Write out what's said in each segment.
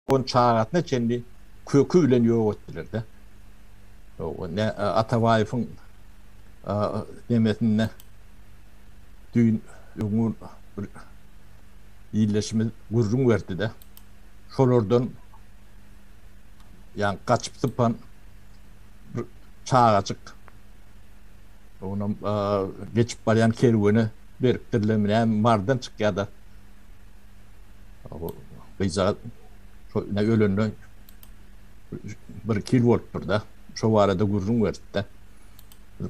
On çagasyna çenli köki bilen ýok etdiler-de. Ne Atabaýewiň demesinde düýn öňňun bir ildeşimiz gürrüň berdi-de, şolardan ýa gaçyp-sypan bir çagajyk, oňam geçip barýan kerwene beripdirlermi näme, mardan çykýa-da, Gyzjagaz şo ine ölenden bir-iki ýyl bolupdyr-da, şo barada gürrüň beripdi.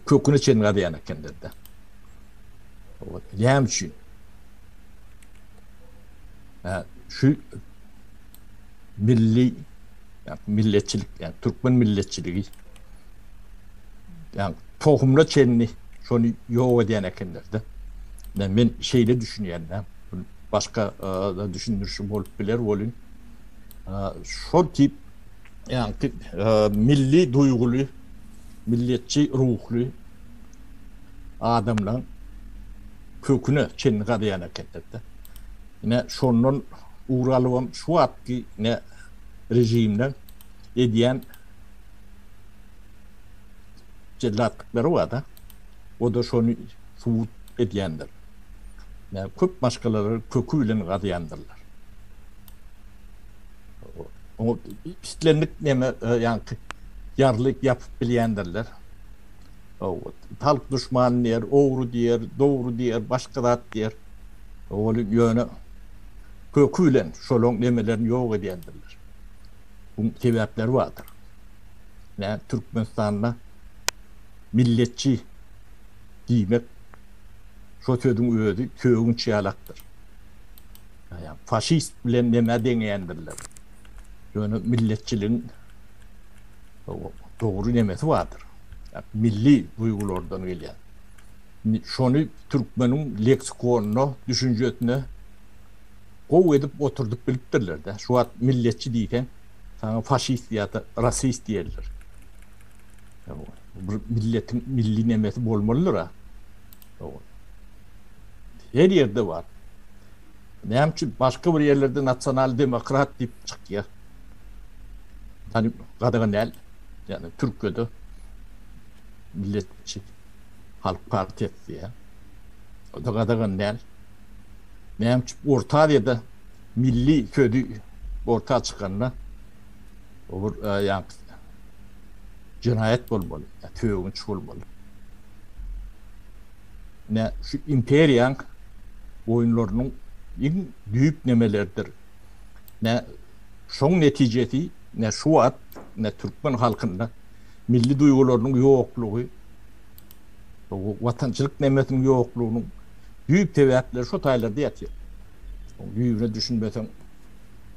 Köküne çenli gazýan ekenler-de. Näme üçin? Şu milli, milletçilik, ýa türkmen milletçiligi ýa tohumyna çenli şony ýok edýän ekenler-de. Men şeýle düşünýän-de. Muny başga-da düşündirişim bolup biler welin, şol tip ýaňky milli duýguly, milliýetçi ruhly adamlaň köküne çenli gazýan ekenler-de. Ine, şondan ugur alybam şu wagtky ine režimleň edýän jellatlyklary bar-da, o-da şony subut edýändir. köp maşgalalary köki bilen gazýandyrlar. Oňa islendik näme, ýaňky ýarly ýapyp bilýändirler. Halk duşman diýer, ogry diýer, dogry diýer, başga zat diýer. Ol ýöne köki bilen şolaryň nemelerini ýok edýändirler. Buň sebäpleri bardyr. Türkmenistanda milletçi diýmek Şo sözüň özi sögünç ýalakdyr. Ýa-ýa faşist bilen nämä deňeýändirler. Ýöne milletçiligiň dogry nemesi bardyr. Milli duýgulardan gelýän. Şony türkmeniň leksikonyna, düşünjesine gowy edip oturdyp bilipdirler-dä. Şu wagt milletçi diýseň, saňa faşist ýa-da rasist diýerler. Bir milletiň milli nemesi bolmalydyr-a. Her ýerde bar. Näme üçin başga bir ýerlerde nasional demokrat diýip çykýar? Ýani gadagan däl. Ýani Türkiýede milletçi halk partiýasy diýýär. O-da gadagan däl. Näme üçin Orta Aziýada milli sözi orta çykanda Bu bir ýaňky jenaýat bolmaly, ýa töwünç bolmaly. Ine, şu imperiýaň oýunlarynyň iň düýp nemeleridir. Ine, şoň netijesi, ine, şu wagt, ine, türkmen halkynda milli duýgularynyň ýoklugy, watançylyk nemesiniň ýoklugynyň düýp sebäpleri şu taýlarda ýatyr. Düýbüne düşünmeseň,